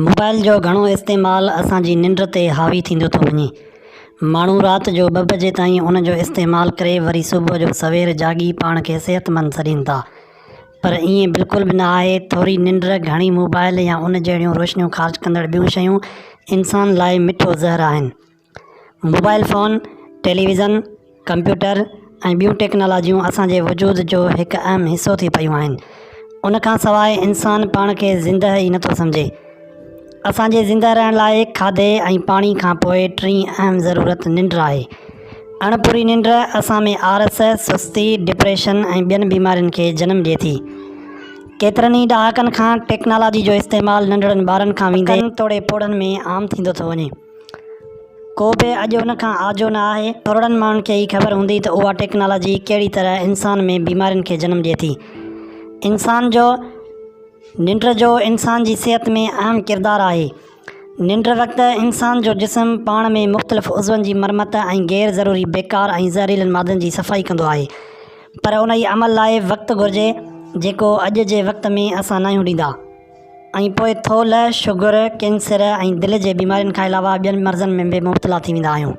Mobile جو گهڻو استعمال اسانجي ننڊ تي حاوي ٿيندو ٿو وڃي ماڻهو رات جو ٻه بجي تائين ان جو استعمال ڪري وري صبح جو سوير جاڳي پاڻ کي صحتمند سڏين ٿا پر ائين بلڪل به نه آهي ٿوري ننڊ گهڻي موبائل يا ان جهڙيون روشنيون خارج ڪندڙ ٻيون شيون انسان لاء مٺو زهر آهن موبائل فون، ٽيليويزن، ڪمپيوٽر ۽ ٻيون ٽيڪنالاجيون اسان جي وجود جو هڪ اهم حصو ٿي پيون آهن. ان کان سواء انسان پاڻ کي زندهه ئي نٿو سمجهي. اسان جي زندهه رهڻ لاء کاڌي ۽ پاڻي کان پوء ٽين اهم ضرورت ننڊ آهي. اڻ پوري ننڊ اسان ۾ آرس، سستي، ڊپريشن ۽ ٻين بيمارين کي جنم ڏئي ٿي. ڪيترن ئي ڏهاڪن کان ٽيڪنالاجي جو استعمال ننڍڙن ٻارن کان ويندي ڪن توڙي پوڙهن ۾ عام ٿيندو ٿو وڃي. ڪو به اڄ ان کان آجو نه آهي. ٿورڙن ماڻهن کي ئي خبر هوندي ته اها ٽيڪنالاجي ڪهڙي طرح انسان ۾ بيمارين کي جنم ڏئي ٿي. انسان جو ننڊ جو انسان جي صحت ۾ اهم ڪردار آهي. ننڊ وقت انسان جو جسم پاڻ ۾ مختلف عضون جي مرمت ۽ غير ضروري بيڪار ۽ زهريلن مادن جي صفائي ڪندو آهي. پر انهي عمل لاء وقت گهرجي جيڪو اڄ جي وقت ۾ اسان ناهيون ڏيندا. ۽ پوء ٿولهه، شگر، ڪينسر ۽ دل جي بيمارين کان علاوه ٻين مرضن ۾ به مبتلا ٿي ويندا آهيون.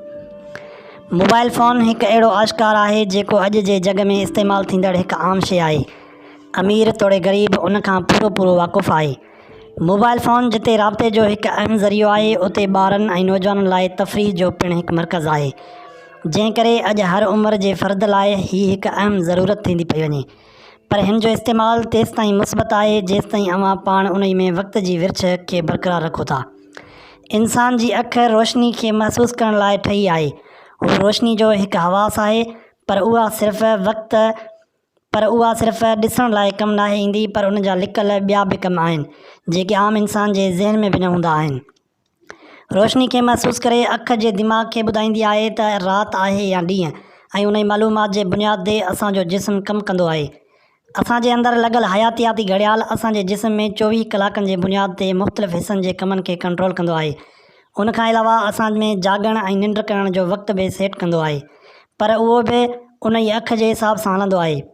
موبائل فون هڪ اهڙو آشڪار آهي جيڪو اڄ جي جڳ ۾ استعمال ٿيندڙ هڪ عام شيء آهي. امير توڙي غريب ان کان پورو پورو واقف آهي. موبائل فون جتي رابطي جو هڪ اهم ذريعو آهي اتي ٻارن ۽ نوجوانن لاء تفريح جو پڻ هڪ مرڪز آهي. جنهن ڪري اڄ هر عمر جي فرد لاء هي هڪ اهم ضرورت ٿيندي پئي وڃي. پر هن جو استعمال تيستائين مثبت آهي جيستائين اوهان پاڻ انهي ۾ وقت جي ورڇ کي برقرار رکو ٿا. انسان جي اک روشني کي محسوس ڪرڻ لاء ٺهي آهي. هو روشني جو هڪ حواس آهي پر اها صرف وقت پر اها صرف ڏسڻ لاء ڪم ناهي ايندي پر ان جا لڪل ٻيا به ڪم آهن جيڪي عام انسان جي ذهن ۾ به نه هوندا آهن. روشني کي محسوس ڪري اک جي دماغ کي ٻڌائيندي آهي ته رات آهي يا ڏينهن ۽ انهي معلومات جي بنياد تي اسان جو جسم ڪم ڪندو آهي. اسان جي اندر لڳل حياتياتي گهڙيال اسان جي جسم ۾ چوويهه ڪلاڪن جي بنياد تي مختلف حصن جي ڪمن کي ڪنٽرول ڪندو آهي. ان کان علاوه اسان ۾ جاڳڻ ۽ ننڊ ڪرڻ جو وقت به سيٽ ڪندو آهي پر اهو به انهي اک جي حساب سان هلندو آهي.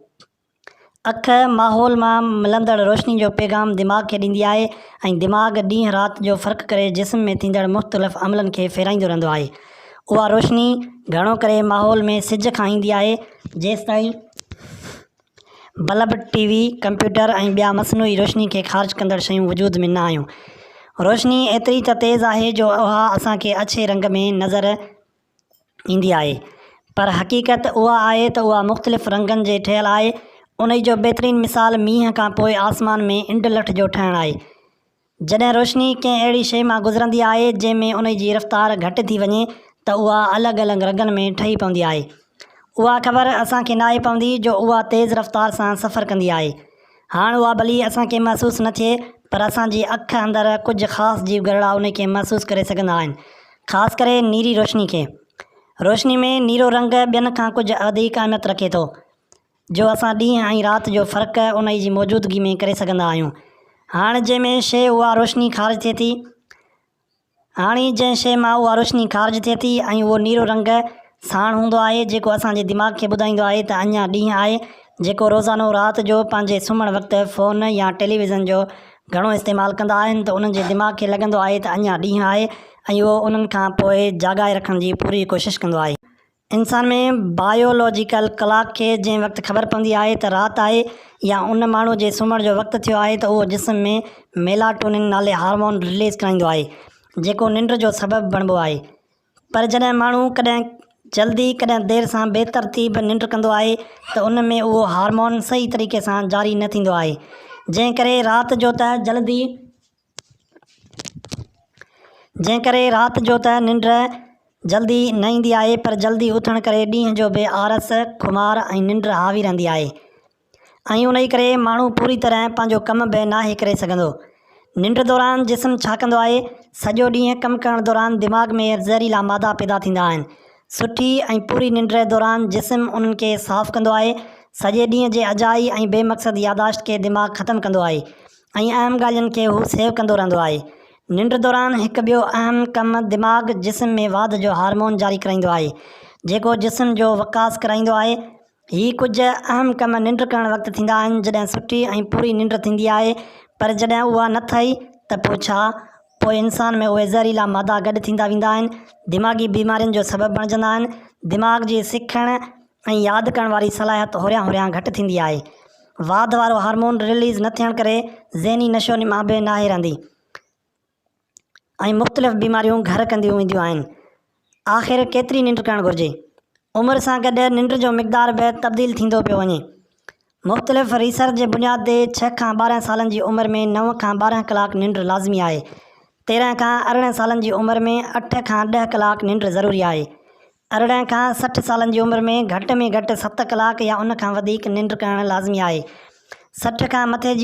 اک، ماحول مان ملندڙ روشني جو پيغام دماغ کي ڏيندي آهي ۽ دماغ ڏينهن رات جو فرق ڪري جسم ۾ ٿيندڙ مختلف عملن کي ڦيرائيندو رهندو آهي. اها روشني گهڻو ڪري ماحول ۾ سج کان ايندي آهي، جيستائين بلب، ٽي وي، ڪمپيوٽر ۽ ٻيا مصنوعي روشني کي خارج ڪندڙ شيون وجود ۾ نه آيون. روشني ايتري ته تيز آهي جو اها اسان کي اڇي رنگ ۾ نظر ايندي آهي پر حقيقت اها آهي ته اها مختلف رنگن جي ٺهيل آهي انهي جو بهترين مثال مينهن کان پوء آسمان ۾ انڊ لٺ جو ٺهڻ آهي جڏهن روشني ڪنهن اهڙي شئي مان گذرندي آهي جنهن ۾ انهي جي رفتار گهٽ ٿي وڃي ته اها الڳ الڳ رنگن ۾ ٺهي پوندي آهي اها خبر اسان کي ناهي پوندي جو اها تيز رفتار سان سفر ڪندي آهي هاڻ اها ڀلي اسان کي محسوس نه ٿئي پر اسان جي اک اندر ڪجهه خاص جيو گهرڙا انهي کي محسوس ڪري سگهندا آهن. خاص ڪري نيري روشني کي. روشني ۾ نيرو رنگ ٻين کان ڪجهه اڌيڪ اهميت رکي ٿو. جو اسان ڏينهن ۽ رات جو فرق انهي جي موجودگي ۾ ڪري سگهندا آهيون. هاڻ جنهن ۾ شيء اها روشني خارج ٿئي ٿي. هاڻي جنهن شيء مان اها روشني خارج ٿئي ٿي ۽ اهو نيرو رنگ ساڻ هوندو آهي جيڪو اسان جي دماغ کي ٻڌائيندو آهي ته اڃا ڏينهن آهي جيڪو روزانو رات جو پنهنجي سمهڻ وقت فون يا ٽيليويزن جو گهڻو استعمال ڪندا آهن ته انهن جي دماغ کي لڳندو آهي ته اڃا ڏينهن آهي ۽ اهو انهن کان پوء جاڳائي رکڻ جي پوري ڪوشش ڪندو آهي. انسان ۾ بائيولاجيڪل ڪلاڪ کي جنهن وقت خبر پوندي آهي ته رات آهي يا ان ماڻهو جي سمهڻ جو وقت ٿيو آهي ته اهو جسم ۾ ميلاٽونن نالي هارمون رليز ڪرائيندو آهي جيڪو ننڊ جو سبب بڻبو آهي پر جڏهن ماڻهو ڪڏهن جلدي ڪڏهن دير سان بي ترتيب ننڊ ڪندو آهي ته ان ۾ اهو هارمون صحيح طريقي سان جاري نه ٿيندو آهي جنهن ڪري رات جو ته جلدي جنهن ڪري رات جو ته ننڊ جلدي نه ايندي آهي پر جلدي اٿڻ ڪري ڏينهن جو به آرس، خمار ۽ ننڊ حاوي رهندي آهي ۽ انهي ڪري ماڻهو پوري طرح پنهنجو ڪم به ناهي ڪري سگهندو. ننڊ دوران جسم ڇا ڪندو آهي؟ سڄو ڏينهن ڪم ڪرڻ دوران دماغ ۾ زهريلا مادا پيدا ٿيندا آهن. سٺي ۽ پوري ننڊ دوران جسم انهن کي صاف ڪندو آهي. سڄي ڏينهن جي اجائي ۽ بي مقصد ياداشت کي دماغ ختم ڪندو آهي. ۽ اهم ڳالهين کي هو سيو ڪندو رهندو آهي. ننڊ دوران هڪ ٻيو اهم ڪم دماغ جسم ۾ واڌ جو هارمون جاري ڪرائيندو آهي، جيڪو جسم جو وڪاس ڪرائيندو آهي. هي ڪجهه اهم ڪم ننڊ ڪرڻ وقت ٿيندا آهن جڏهن سٺي ۽ پوري ننڊ ٿيندي آهي پر جڏهن اها نه ٿئي ته پوء ڇا؟ پوء انسان ۾ اهي زهريلا مادا گڏ ٿيندا ويندا آهن، دماغي بيمارين جو سبب بڻجندا آهن، دماغ جي سکڻ ۽ ياد ڪرڻ واري صلاحيت هوريان هوريان گهٽ ٿيندي آهي. واڌ وارو هارمون رليز نه ٿيڻ ڪري ذهني نشو و نما به ناهي رهندي ۽ مختلف بيماريون گهر ڪنديون وينديون آهن. آخر ڪيتري ننڊ ڪرڻ گهرجي؟ عمر سان گڏ ننڊ جو مقدار به تبديل ٿيندو پيو وڃي. مختلف ريسرچ جي بنياد تي ڇهه کان ٻارهن سالن جي عمر ۾ نو کان ٻارهن ڪلاڪ ننڊ لازمي آهي. تيرهن کان ارڙهن سالن جي عمر ۾ اٺ کان ڏهه ڪلاڪ ننڊ ضروري آهي. ارڙهن کان سٺ سالن جي عمر ۾ گهٽ ۾ گهٽ ست ڪلاڪ يا ان کان وڌيڪ ننڊ ڪرڻ لازمي آهي. سٺ کان مٿي جي.